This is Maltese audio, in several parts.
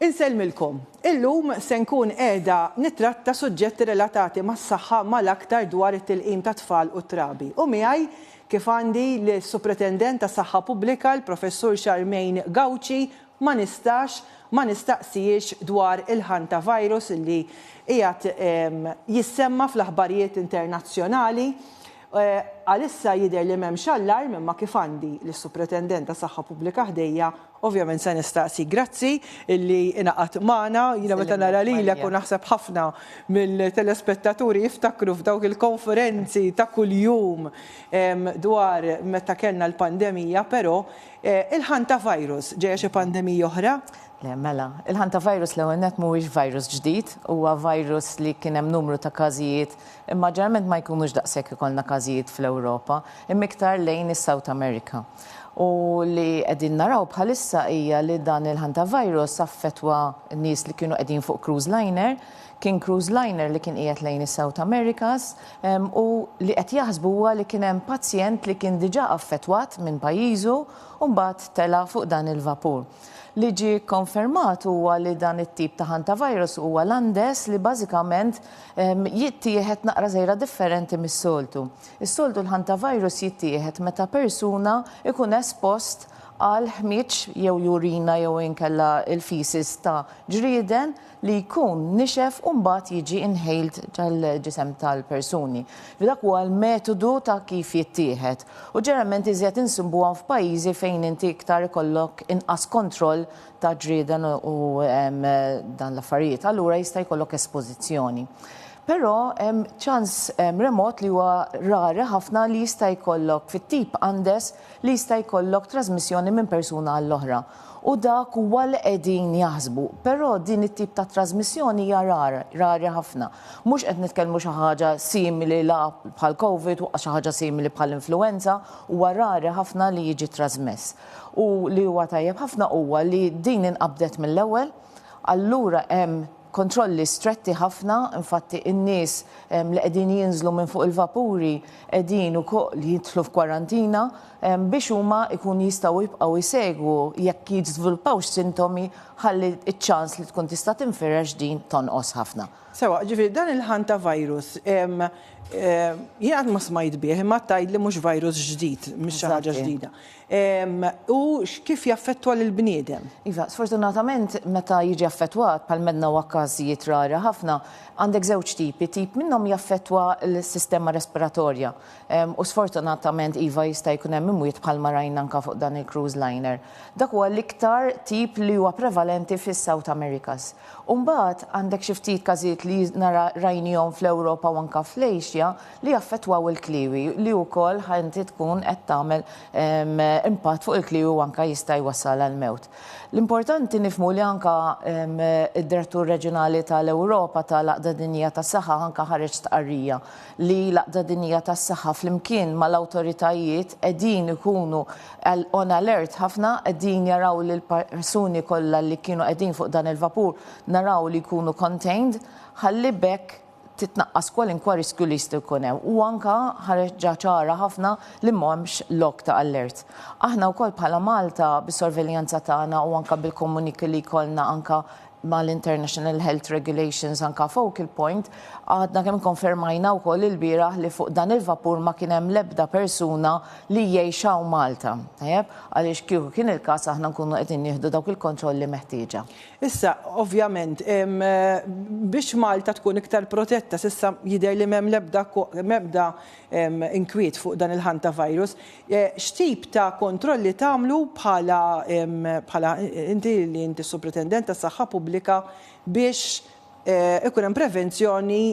Insellmilkom. Illum se nkun qiegħda nittratta suġġetti relatati mas-saħħa mal-aktar dwar it-tilqim tat-tfal u t-trabi. U miegħi kif għandi lis-Supretendent tas-Saħħa Pubblika, l-Professur Charmaine Gauci, ma nistax ma nistaqsihiex dwar il-Hantavirus li qiegħed jissemma' fl-aħbarijiet internazzjonali. Għalissa jidher li m'hemmx allarm imma kif għandi lis-Supretendent tas-Saħħa Pubblika ħdejja, ovvjament se nistaqsi. Grazzi illi ingħaqadt magħna. Jiena meta nara lilek u naħseb ħafna mill-telespettaturi jiftakru f'dawk il-konferenzi ta' kuljum dwar meta kellna l-pandemija, però il-Hantavirus ġejja xi pandemija oħra? Le, mela. Il-Hantavirus l-ewwel nett mhuwiex virus ġdid, huwa virus li kien hemm numru ta' każijiet Imma ġeneralment ma jkunux daqshekk ikollna każijiet fl-Ewropa, imma iktar lejn is-South America. U li qegħdin naraw bħalissa hija li dan il-Hantavirus affettwa nies li kienu qegħdin fuq cruise liner, kien cruise liner li kien qiegħed lejn is-South Americas, u li qed jaħsbu huwa li kien hemm pazjent li kien diġà affettwat minn pajjiżu u mbagħad tela' fuq dan il-vapur. Li ġie kkonfermat huwa li dan it-tip ta' Hantavirus huwa l-Andes li bażikament Jittieħed naqra żgħira differenti mis-soltu. Is-soltu l-hantavirus jittieħed meta persuna jkun espost għal ħmieġ jew jurina jew inkella l-feces ta' ġrieden li jkun nixef u mbagħad jiġi inhaled tal-ġisem tal-persuni. Dak huwa l-metodu ta' kif jittieħed. U ġeneralment iżjed insibuhom f'pajjiżi fejn inti iktar ikollok inqas kontroll ta' ġrieden u dan l-affarijiet, allura jista' jkollok espożizzjoni. Però hemm ċans remot li huwa rari ħafna li jista' jkollok fit-tip Andes li jista' jkollok trasmissjoni minn persuna għall-oħra. U dak huwa li qegħdin jaħsbu. Però din it-tip ta' trasmissjoni hija rara, rari ħafna. Mhux qed nitkellmu xi ħaġa simili la bħall-Covid u xi ħaġa simili bħall-influwenza, huwa rari ħafna li jiġi trasmess. U li huwa tajjeb ħafna huwa li din inqabdet mill-ewwel, allura hemm kontrolli stretti ħafna, infatti in-nies li qegħdin jinżlu minn fuq il-vapuri qegħdin ukoll jidħlu f'kwarantina biex huma jkunu jistgħu jibqgħu jsegwu jekk jiżviluppawx sintomi ħalli ċ-ċans li tkun tista' tinfirex din tonqos ħafna. Sewa, ġifieri dan il-ħann ta' virus, jien qatt ma smajt bih, imma tgħidli mhux virus ġdid, mhix xi ħaġa ġdida. U kif jaffettwa lill-bniedem? Iva, sfortunatament meta jiġi affettwat, bħal m'għedna huwa każijiet rari ħafna, għandek żewġ tipi, tip minnhom jaffettwa l-sistema respiratorja. U sfortunatament iva jista' jkun hemm imwiet bħalma rajna anke fuq dan il-cruise liner. Dak huwa l-iktar tip li huwa prevalenti fis-South Americas. U mbagħad għandek xi ftit każijiet li nara rajniehom fl-Ewropa u anke fl-Asia li jaffettwaw il-kliewi li wkoll ħa inti tkun qed tagħmel impatt fuq il-kliewi u anke jista' jwassal għall-mewt. L-importanti nifhmu li anke d-Direttur Reġjonali tal-Ewropa tal-Għaqda Dinjija tas-Saħħa anke ħareġ stqarrija li l-Għaqda Dinjija tas-Saħħa flimkien mal-awtoritajiet qegħdin ikunu on alert ħafna, qegħdin jaraw li l-persuni kollha li kienu qegħdin fuq dan il-vapur naraw li jkunu contained ħalli b'hekk titnaqqas kwalinkwa riskju li jista' jkun hemm. U anke ħareġha ċara ħafna li m'hemmx lok ta' allert. Aħna wkoll bħala Malta bis-sorveljanza tagħna u anke bil-komuniki li jkollna anke ma' l-International Health Regulations anka focal point, għadna kemm ikkonfermajna wkoll ilbieraħ li fuq dan il-vapur ma kien hemm l-ebda persuna li jgħix hawn Malta. Tajjeb? Għaliex kieku kien il-każ aħna nkunu qegħdin nieħdu dawk il-kontrolli meħtieġa. Issa, ovvjament, biex Malta tkun iktar protetta, s'issa jidher li m'hemm l-ebda m'ebda inkwiet fuq dan il-Hantavirus, X'tip ta' kontrolli tagħmlu bħala bħala inti li inti s-Supretendent tas-Saħħa Pubblika biex ikun hemm prevenzjoni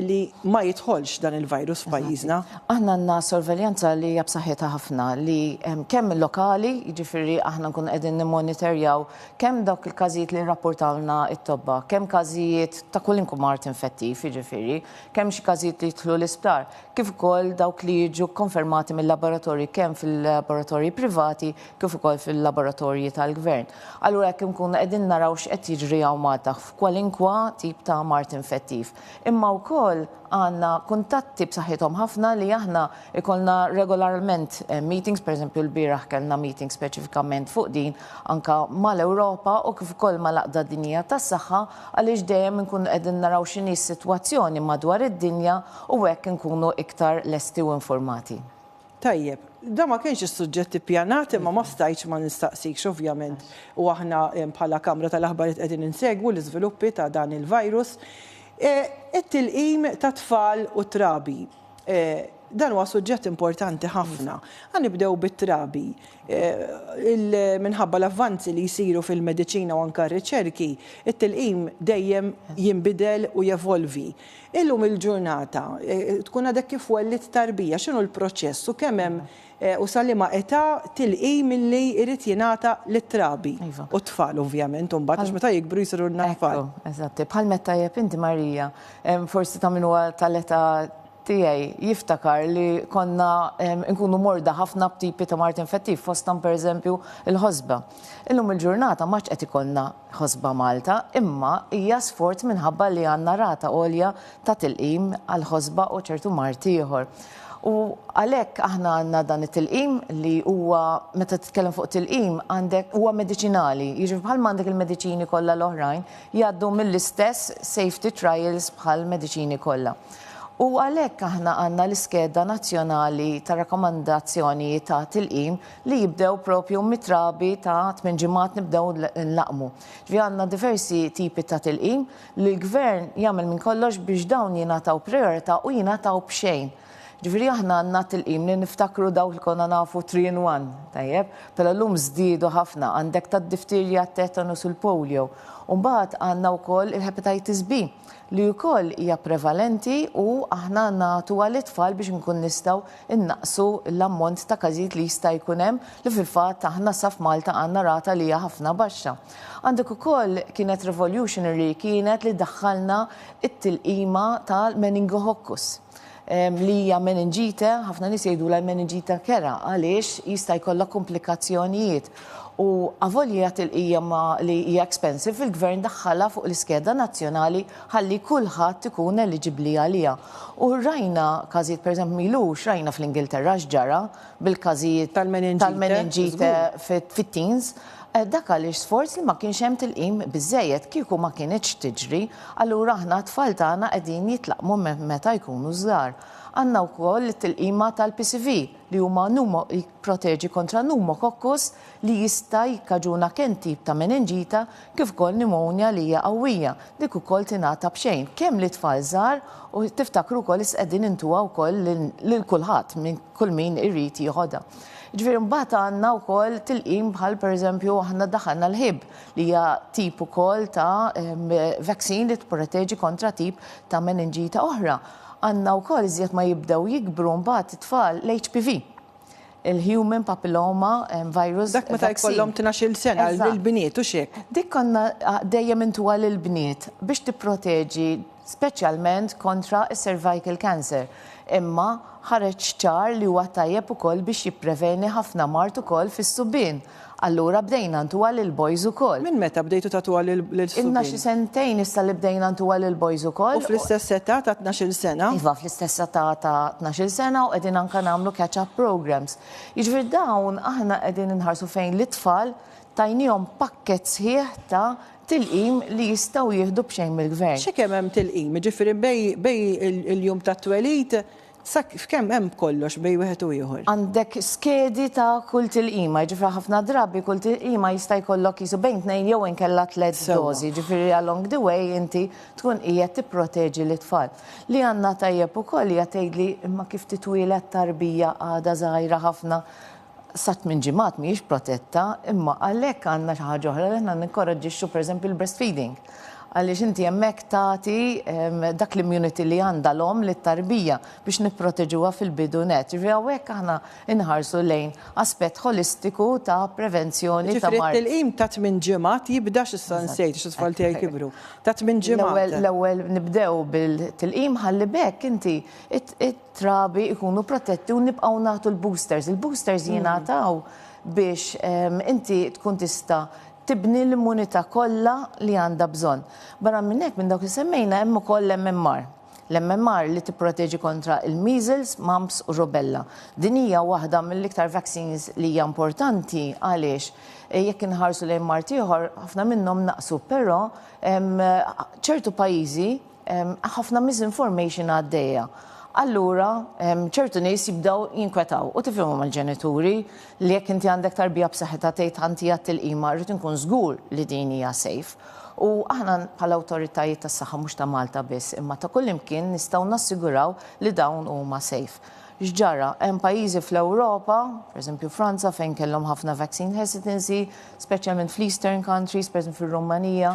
li ma jidħolx dan il-virus f'pajjiżna? Aħna għandna sorveljanza li hija b'saħħitha ħafna li kemm lokali, jiġifieri aħna nkunu qegħdin nimmoniterjaw kemm dawk il-każijiet li jirrappurtawlna t-tobba, kemm każijiet ta' kwalinkwe mard infettiv jiġifieri, kemm xi każijiet li jidħlu l-isptar, kif ukoll dawk li jiġu kkonfermati mil-laboratorji kemm fil-laboratorji privati kif ukoll fil-laboratorji tal-Gvern. Allura hekk inkunu qegħdin naraw x'qed jiġri hawn Malta f'kwalinkwa tip ta' mard infettiv. Imma wkoll għandna kuntatti b'saħħithom ħafna li aħna jkollna regolarment meetings, pereżempju lbieraħ kellna meeting speċifikament fuq din anke mal-Ewropa u kif ukoll mal-Għaqda Dinjija tas-Saħħa, għaliex dejjem inkunu qegħdin naraw x'inhi s-sitwazzjoni madwar id-dinja u hekk inkunu iktar lesti u infurmati. Tajjeb, dan ma kienx is-suġġett ippjanat imma ma stajtx ma nistaqsikx ovvjament u aħna bħala kamra tal-aħbarijiet qegħdin insegwu l-iżviluppi ta' dan il-virus, it-tilqim tat-tfal u t-trabi. Dan huwa suġġett importanti ħafna. Ħa nibdew bit-trabi. Minħabba l-avvanzi li jsiru fil-mediċina u anke r-riċerki, it-tilqim dejjem jinbidel u jevolvi. Illum il-ġurnata, tkun għadek kif wellidt tarbija, x'inhu l-proċess u kemm hemm U sa liema età tilqi milli jrid jingħata lit-trabi? U t-tfal ovvjament imbagħad għax meta jikbru jsiru n-natfal. Ekku, eżatt. Bħal m'għedt tajjeb inti Marija, forsi ta' min huwa tal-età tiegħi jiftakar li konna nkunu morda ħafna b'tipi ta' mard infettiv fosthom pereżempju l-ħosba. Illum il-ġurnata m'għadx qed ikollna ħosba Malta, imma hija sfort minħabba li għandna rata għolja ta' tilqim għall-ħosba u ċertu mard ieħor. U għalhekk aħna għandna dan it-tilqim li huwa meta titkellem fuq tilqim għandek huwa mediċinali, jiġifieri bħalma għandek il-mediċini kollha l-oħrajn jgħaddu mill-istess safety trials bħall-mediċini kollha. U għalhekk aħna għandna l-iskeda nazzjonali ta' rakkomandazzjoni ta' tilqim li jibdew propju mit-trabi ta' tmien ġimgħat nibdew nlaqqmu. Ġifieri għandna diversi tipi ta' tilqim li l-Gvern jagħmel minn kollox biex dawn jingħataw prijorità u jingħataw b'xejn. Ġifieri aħna għandna t-tilqim li niftakru dawk li konna nafu three in one, tajjeb, però llum żdiedu ħafna, għandek tad-diftirja, t-tetanus u l-polio. U mbagħad għandna wkoll il-hepatitis B. li wkoll hija prevalenti u aħna nagħtuha lit-tfal biex inkun nistgħu nnaqqsu l-ammont ta' każijiet li jista' jkun hemm li fil-fatt aħna sa f'Malta għandna rata li hija ħafna baxxa. Għandek ukoll kienet revolutionary kienet li daħħalna t-tilqima tal-meningococus. li hija meningite, ħafna nies jgħidulha l-meningita kera għaliex jista' jkollha komplikazzjonijiet. U avolja tilqija ma li hija expensive il-gvern daħħalha fuq l-iskeda nazzjonali ħalli kulħadd ikun eliġibbli għaliha. U rajna każijiet pereżempju milux rajna fl-Ingilterra x'ġara bil-każijiet tal-meningite fit-teens. Dak għaliex sforz li ma kienx hemm tilqim biżżejjed kieku ma kinitx tiġri. Allura aħna t-tfal tagħna qegħdin jitlaqqmu minn meta jkunu żgħar. Għandna wkoll it-tilqima tal-PCV li huma jipproteġi kontra pneumococcus li jista' jikkaġuna kemm tip ta' menenġita kif ukoll pneumonia li hija qawwija, dik ukoll tingħata b'xejn kemm lit-tfal żgħar u tiftakru wkoll li qegħdin intuha wkoll lil kulħadd kull min irid jieħodha. Jiġifieri mbagħad għandna wkoll tilqim bħal pereżempju aħna daħħalna l-Hib li hija tip ukoll ta' vaccine li tipproteġi kontra tip ta' meningita oħra. Għandna wkoll iżjed ma jibdew jikbru mbagħad it-tfal l-HPV il-human papilloma virus. Dak meta jkollhom tnax-il sena lill-bniet u x'hekk. Dik konna dejjem intuha lill-bniet biex tipproteġi speċjalment kontra s-cervical cancer, imma ħareġ ċar li huwa tajjeb ukoll biex jippreveni ħafna mard ukoll fis-subien. Allura bdejna ntuha lill-boys ukoll. Minn meta bdejtu tagħtuha lill-subien? Ilna xi sentejn issa li bdejna ntuha lill-boys ukoll. U fl-istess età ta' tnax-il sena? Iva, fl-istess età ta' tnax-il sena u qegħdin anke nagħmlu catch up programmes. Jiġifieri dawn aħna qegħdin inħarsu fejn lit-tfal tajniehom pakkett sħiħ ta' tilqim li jistgħu jieħdu b'xejn mill-Gvern. X'kemm hemm tilqim, jiġifieri bejn il-jum tat-twelid sa f'kemm hemm b'kollox bejn wieħed u ieħor? Għandek skedi ta' kull tilqima, jiġifieri ħafna drabi kull tilqima jista' jkollok qisu bejn tnejn jew inkella tliet dożi, jiġifieri along the way inti tkun qiegħed tipproteġi lit-tfal. Li għandna tajjeb ukoll hija tgħidli imma kif titwieled tarbija għadha żgħira ħafna, sa tmien ġimgħat mhijiex protetta, imma għalhekk għandna xi ħaġa oħra li aħna ninkoraġġixxu pereżempju l-breastfeeding. Għaliex inti hemmhekk tagħti ehm, dak l-immunity li għandha l-omm lit-tarbija biex nipproteġuha fil-bidu net. Ġifieri hawnhekk aħna inħarsu lejn aspett holistiku ta' prevenzjoni ta' Ġifri mart. t-tilqim ta' tmin ġimgħat jibda x'issa nsejt x-tfal tiegħi kibru. Ta' tmin L-ewwel ġimgħat. l-ewwel nibdew bil-tilqim ħalli b'hekk inti it- it- trabi ikunu protetti u nibqgħu nagħtu l-boosters. Il-boosters mm. jingħataw biex ehm, inti tkun tista' tibni l-immunità kollha li għandha bżonn. Barra minn hekk minn dawk li semmejna hemm ukoll MMR. L-MMR li tipproteġi kontra il-measles, mumps u rubella. Din hija waħda mill-iktar vaccines li hija importanti għaliex Eh, jekk inħarsu lejn Mart ieħor, ħafna minnhom naqsu, però ċertu pajjiżi ħafna misinformation għaddejja. Allura, ċertu nies jibdaw jinkwetaw u tifhimhom mal-ġenituri li jekk inti għandek tarbija b'saħħitha tgħid ħanti għat-tilqima rrid inkun żgur li din hija safe. U aħna bħala awtoritajiet tas-saħħa mhux ta' Malta biss imma ta' kullimkien nistgħu nassiguraw li dawn huma safe. X'ġara? Hemm pajjiżi fl-Ewropa, pereżempju Franza fejn kellhom ħafna vaccine hesitancy, speċjalment fl-Eastern countries, pereżempju fir-Rumanija,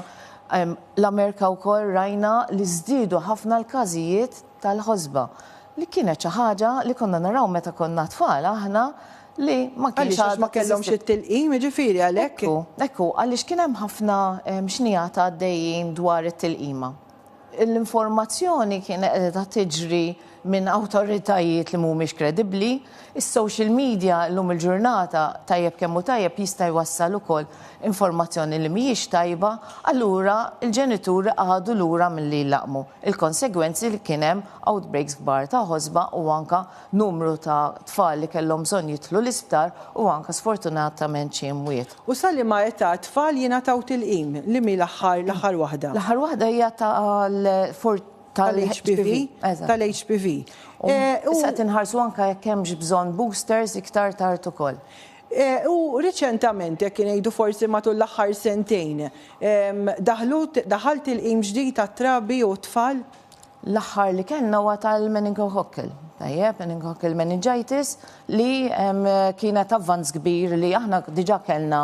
L-Amerika wkoll rajna li żdiedu ħafna l-każijiet tal-ħosba, li kienet xi ħaġa li konna naraw meta konna tfal aħna li ma kienx Għaliex għax ma kellhomx it-tilqim, jiġifieri għalhekk. Ekku, ekku, għaliex kien hemm ħafna xnigħat għaddejjin dwar it-tilqima. L-informazzjoni kienet qiegħda tiġri minn awtoritajiet li mhumiex kredibbli, is-social media llum il-ġurnata tajjeb kemm hu tajjeb jista' jwassal ukoll informazzjoni li mhijiex tajba, allura l-ġenituri qagħdu lura milli jlaqqmu l-konsegwenzi li kien hemm outbreaks kbar ta' ħosba u anke numru ta' tfal li kellhom bżonn jidħlu l-isptar u anke sfortunatament xi imwiet. U sa liema età t-tfal jingħataw tilqim? Li mhi l-aħħar l-aħħar waħda? L-aħħar waħda hija tal-14 tal-HPV. Tal-HPV. U se tinħarsu anka jekk hemmx bżonn boosters iktar tard ukoll. Eh, u riċentament, jekk ngħidu forsi matul l-aħħar sentejn, daħalt il-qim ġdid tat-trabi u t-tfal? L-aħħar li kellna huwa tal-meningococcal, tajjeb, meningococcal meningitis, li kienet avvanz kbir li aħna diġà kellna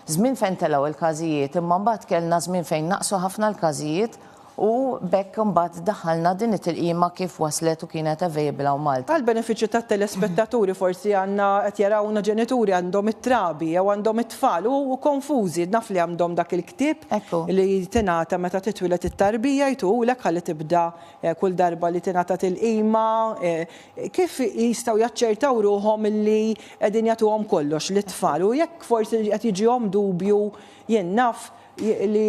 żmien fejn telgħu l-każijiet, imma mbagħad kellna żmien fejn naqsu ħafna l-każijiet U b'hekk imbagħad daħħalna din it-tilqima kif waslet u kienet available hawn Malta. Għall-benefiċċju tat-telespettaturi forsi għandna qed jarawna ġenituri għandhom it-trabi jew għandhom it-tfal u konfużi, naf li għamdhom dak il-ktieb li tingħata meta titwieled it-tarbija jtuhulek ħalli tibda kull darba li tingħata tilqima kif jistgħu jaċċertaw ruħhom illi qegħdin jagħtuhom kollox lit-tfal u jekk forsi qed jiġihom dubju jien naf li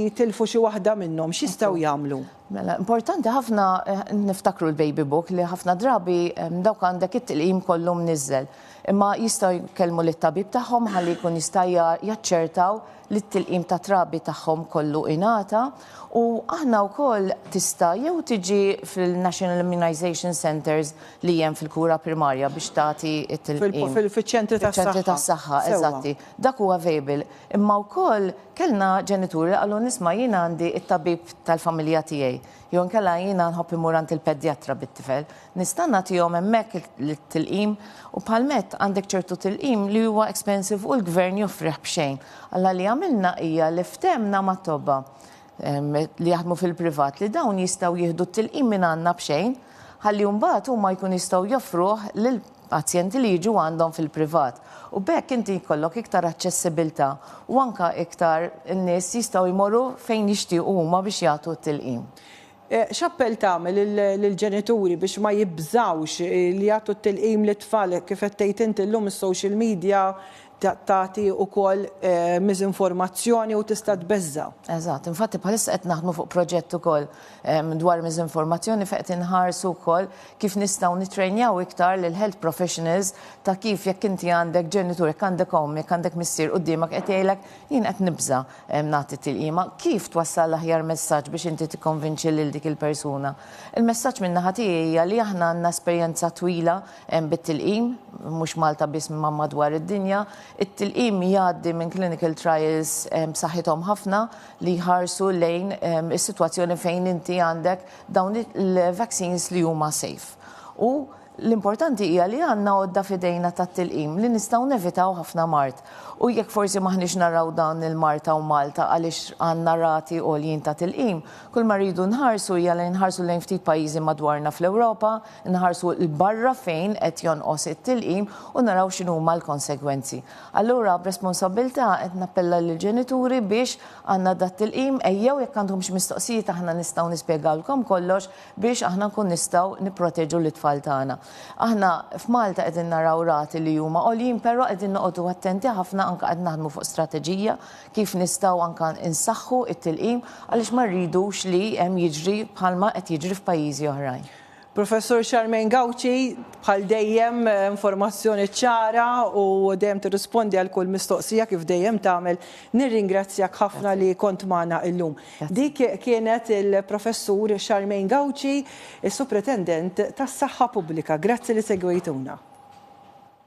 jitilfu xi waħda minnhom, x'jistgħu jagħmlu? Mela, importanti ħafna eh, niftakru l-baby book li ħafna drabi dawk għandek it-tilqim kollu mniżżel. Imma jistgħu jkellmu lit-tabib tagħhom ħalli jkun jista' jaċċertaw li t-tilqim ta' trabi tagħhom kollu ingħata u aħna wkoll tista' jew tiġi fil-National Immunization Centers li hemm fil-kura primarja biex tagħti t-tilqim. Fil-ċentri tas-saħħa. Fil-ċentri tas-saħħa, eżatti. Dak huwa available. Imma wkoll kellna ġenituri li qalulna isma' jien għandi t-tabib tal-familja tiegħi jew inkella jiena nħobb immur għand il-pedjatra bit-tifel. Nista' nagħtihom hemmhekk it-tilqim? U bħal Matt għandek ċertu tilqim li huwa expensive u l-gvern joffrih b'xejn. Alla li għamilna hija li ftehmna mat-tobba li jaħdmu fil-privat li dawn jistgħu jieħdu t-tilqim mingħandna b'xejn ħalli mbagħad huma jkunu jistgħu joffruh lil pazjenti li jiġu għandhom fil-privat u b'hekk inti jkollok iktar aċċessibbiltà u anke iktar nies jistgħu jmorru fejn jixtiequ huma biex jagħtu t-tilqim. X'appell tagħmel lill-ġenituri biex ma jibżgħux li jagħtu t-tilqim lit-tfal kif qed tgħid inti llum is-social media tagħti wkoll miżinformazzjoni u tista' tbeżża'. Eżatt. Infatti bħalissa qed naħdmu fuq proġett ukoll dwar miżinformazzjoni fejn qed inħarsu wkoll kif nistgħu nittrejnjaw iktar lill-health professionals ta' kif jekk inti għandek ġenitur, jekk għandek omm, jekk għandek missier quddiemek qed jgħidlek jien qed nibża' nagħti t-tilqima, kif twassal l-aħjar messaġġ biex inti tikkonvinċi lil dik il-persuna. Il-messaġġ min-naħa tiegħi hija li aħna għandna esperjenza twila bit-tilqim, mhux Malta biss imma madwar id-dinja. It-tilqim jgħaddi minn clinical trials b'saħħithom ħafna li jħarsu lejn is-sitwazzjoni fejn inti għandek dawn il-vaccines li huma safe. U l-importanti hija li għandna għodda f'idejna tat-tilqim li nistgħu nevitaw ħafna mard. U jekk forsi m'aħniex naraw dan il-mard hawn Malta għaliex għandna rati għoljin ta' tilqim, kulma rridu nħarsu hija li nħarsu lejn ftit pajjiżi madwarna fl-Ewropa, nħarsu 'l barra fejn qed jonqos it-tilqim u naraw x'inhuma l-konsegwenzi. Allura b'responsabbiltà qed nappella lill-ġenituri biex għandna dat-tilqim ejjew jekk għandkom xi mistoqsijiet aħna nistgħu nispjegawlkom kollox biex aħna nkun nistgħu nipproteġu lit-tfal tagħna. Aħna f'Malta qegħdin naraw rati li huma għoljin però qegħdin noqogħdu attenti ħafna anke qed naħdmu fuq strateġija kif nistgħu anke insaħħu t-tilqim għaliex ma rridux li hemm jiġri bħalma qed jiġri f'pajjiżi oħrajn. Professur Charmaine Gauci, bħal dejjem informazzjoni ċara u dejjem tirrispondi għal kull mistoqsija kif dejjem tagħmel. Nirringrazzjak ħafna li kont magħna illum. Dik kienet il-Professur Charmaine Gauci, is-Supretendent tas-Saħħa Pubblika. Grazzi li segwejtuna.